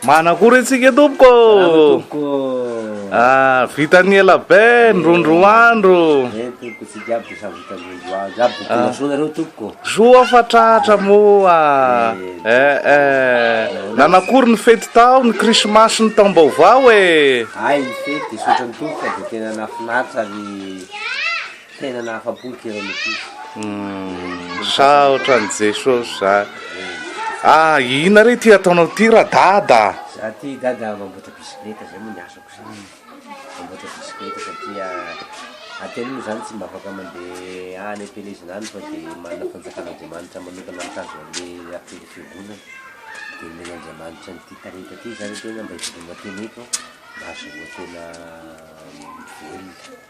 Manakory antsika tompoko. Ah, vitan'ny ela be, ndrondro andro. Eh, tompoko tsy jiaby dia samy vitan'ny ndrondro andro. Jiaby tompoko ah. masona reo tompoko. Soa fa tratra moa. Eh, eh, eh. Nanakory ny fety tao, ny krismasy ny taom-baovao eh. Ay, ny fety, sotra ny tompoko, dia tena nafinaritra ny... Tena nahafapo ny kiran'ny ankizy. Misaotra an'i Jesosy za. Ah, ina re ty ataonao ty ra dada? Za ty dada mamboatra bisikileta zay moa ny asako za. Mamboatra bisikileta satria ah, tena moa zany tsy mba afaka mandeha any am-pielezana any fa de manana fanjakan'Andriamanitra manokana mitazona an'le rapelin'ny fiangonana. De omen'Andriamanitra an'ity talenta ty zany tena mba hividianana tena eto mba azahoantena mivelona.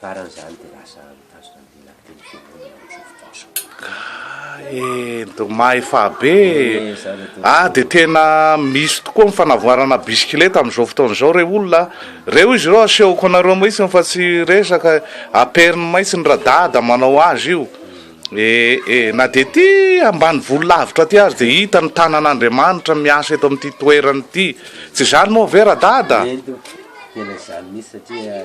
Faran'izany dia lasa mitazona ny lehilahy telo am-piangonana ao amin'izao fotoana izao. Kay do mahefabe eh, ah de tena misy tokoa ny fanavoarana bisikileta amin'izao fotoana izao re olona ah. Reo izy ireo asehoko anareo mihitsiny fa tsy resaka eh. Aperiny mihitsiny radada manao azy io eh eh. Na dia ety ambanivolo lavitra aty aza dia hita ny tanan'Andriamanitra miasa eto amin'ity toerana ity. Tsy izany moa ve radada? Eny do, tena izany mihitsy satria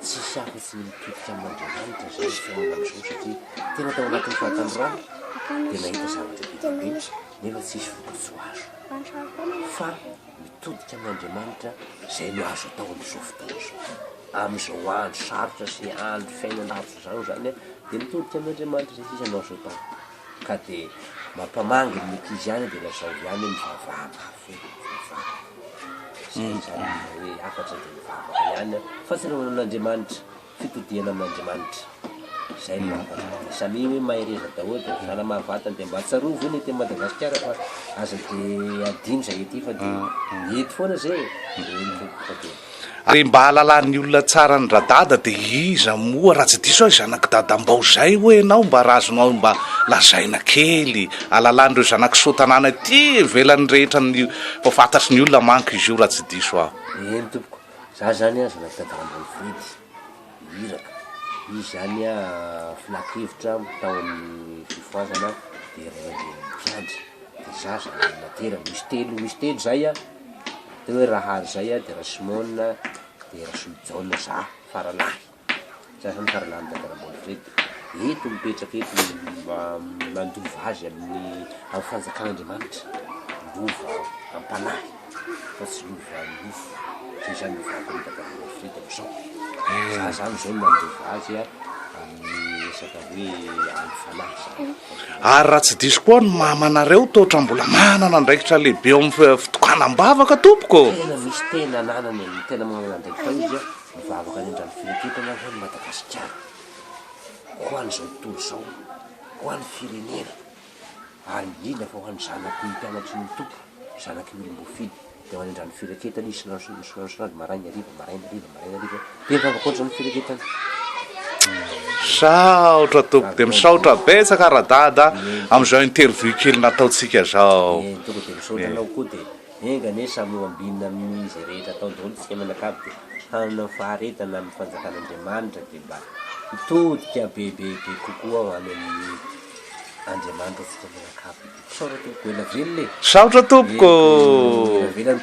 Tsisy hafa tsy ny mitodika amin'Andriamanitra izany ny fiainana amin'izao satria tena tao anatin'ny fahatandroana dia nahita zavatra be dia be nefa tsisy vokatsoa azo. Fa mitodika amin'Andriamanitra izay no azo atao amin'izao fotoana izao. Amin'izao andro sarotra sy andro fiainana ratsy izao izany dia mitodika amin'Andriamanitra izay sisa no azo atao. Ka dia mampamangy ny mety izy ihany dia lazao ihany hoe mivavaha mafy e, mivavaha. Izay no tsara indrindra hoe hafatra dia mivavaka ihany an. Fahatsiarovana amin'Andriamanitra, fitodihana amin'Andriamanitra. Izay no hafatra dia samia hoe mahereza daholo dia misahala mahavatany dia mba tsarovy hoe ny ety Madagasikara fa aza dia adino izay ety fa dia mety foana izay e. Ary mba hahalalan'ny olona tsara an'i Radada dia iza moa raha tsy diso aho i zanak'i Dadambao izay hoy ianao mba raha azonao mba lazaina kely hahalalan'ireo zanak'i Soatanàna ety ivelany rehetra ny mba fantatry ny olona manko izy io raha tsy diso aho. Eny tompoko, za zany an zanak'i Dadambao Fredy, Iraka, izy zany an filan-kevitra tao amin'ny fifohazana dia rendre ny mpiandry, dia za zany naterany, misy telo, misy telo zay an. Tena hoe raha hary zay aho de Rasimôna de Rasolojaona za faralahy, za zany faralahin'i Dadarabola Fredy, eto mipetraka eto mba mandova azy amin'ny amin'ny fanjakan'Andriamanitra, lova am-panahy fa tsy lova am-nofo, zay zany ny vakoan'i Dadarabola Fredy am'zao, za zany zao mandova azy a. Ary raha tsy diso koa ny mamanareo toatra mbola manana andraikitra lehibe eo amin'ny fitokanam-bavaka tompoko ô! Tena misy tena ananany e, ny tena manana andraikitra ao izy a, mivavaka any an-drano fireketam-bavaka ho an'i Madagasikara, ho an'izao tontolo izao, ho an'ny firenena. ary indrindra fa ho an'ny zanak'i mpianatry ny Tompo, zanak'i olom-boafidy, dia manendra ny firaketana izy isan'andro isan'andro, maraina hariva, maraina hariva, maraina hariva, dia ny vavaka ohatr'izany ny firaketana. Misaotra tompoko dia misaotra betsaka Radada amin'izao interview kely nataontsika zao. Enga anie samy ho ambinina amin'ny izay rehetra atao daholo ny fiainana akabo dia hanana ny faharetana amin'ny fanjakan'Andriamanitra dia mba hitodika bebebe kokoa ho any amin'ny Andriamanitra ho fitaovana akabo. Misaotra tompoko, ela velona e! Misaotra tompoko! Ela velona.